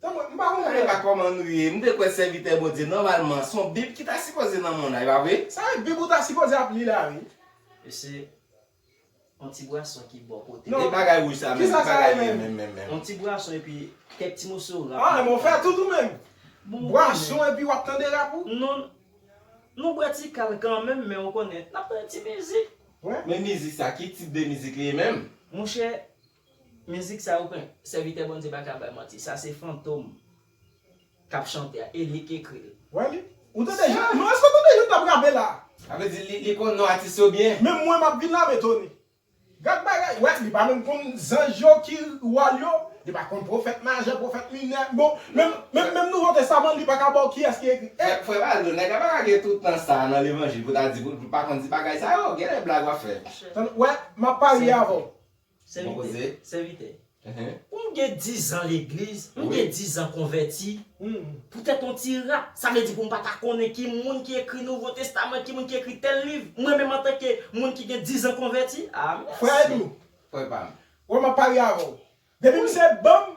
Nan mwen, m pa konprann anyen ak kòman nou ye, m te kwè sèvitè Bondye nòmalman s on bib ki ta sipoze nan monn nan, e pa vre? Sa vle di bib ou ta sipoze ap li la wi. E se on ti bwason ki bò kote w. E bagay wouj sa menm, ki bagay li ye menm menm menm? On ti bwason epi kèk ti moso rap. Ah men w fè tout ou menm? Bwason epi w ap tande rap ou? Non, nou bwè ti kal kanmenm men ou konnen, n ap tande ti mizik. Men mizik sa ki tip de mizik li ye menm? Monchè, Mizik sa yo pran sèvitè Bondye pa ka bay manti sa se fantom kap chante a e li k ekri l. Wè li. Ou tande Jean? Non eske w tande Jean tap rape la? Sa vle di li konn non atis yo byen. Menm mwen map vin lame tony. Gad bagay wè li pa menm konn zanj yo ki wòl yo li pa konn pwofèt majè pwofèt minè bon menm menm nouvo testaman li paka baw kiyès ki ekri e. Frè Valdo nèg la paka gen tout tan sa nan levanjil pou ta di pou l pa konn ti bagay sa yo genlè blag wap fè. Wè map parye avèw Sèvitè, sèvitè, m gen dizan legliz, m gen dizan konvèti, poutèt yon ti ra, sa vle di pou m pa ta konnen ki moun ki ekri Nouvo Testaman, ki moun ki ekri tèl liv, mwen menm antanke moun ki gen dizan konvèti? Ah mèsi! Frè Edou, frè pa m. Wè m ap parye avè w. Depi misye ban m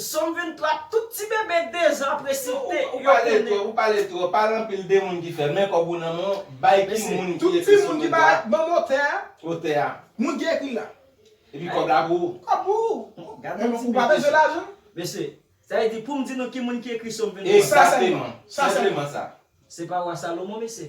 Som 23 tout ti bebe 2 zan ap resite yo konnen. Ou pale twop, pale anpil de moun ki fè men kob ou nan men w bay ki moun ki ekri som 23 a. Banm otè a. Otè a. Moun ki ekri l la. Epi kob la pou ou. Kob pou ou. Gadon ti bebe. Ou pa bezwen lajan. Mesye, sa vle di poum di nou ki moun ki ekri som 23 a. Ekzateman. Sa sèlman sa. Se pa wa Salomon mesye.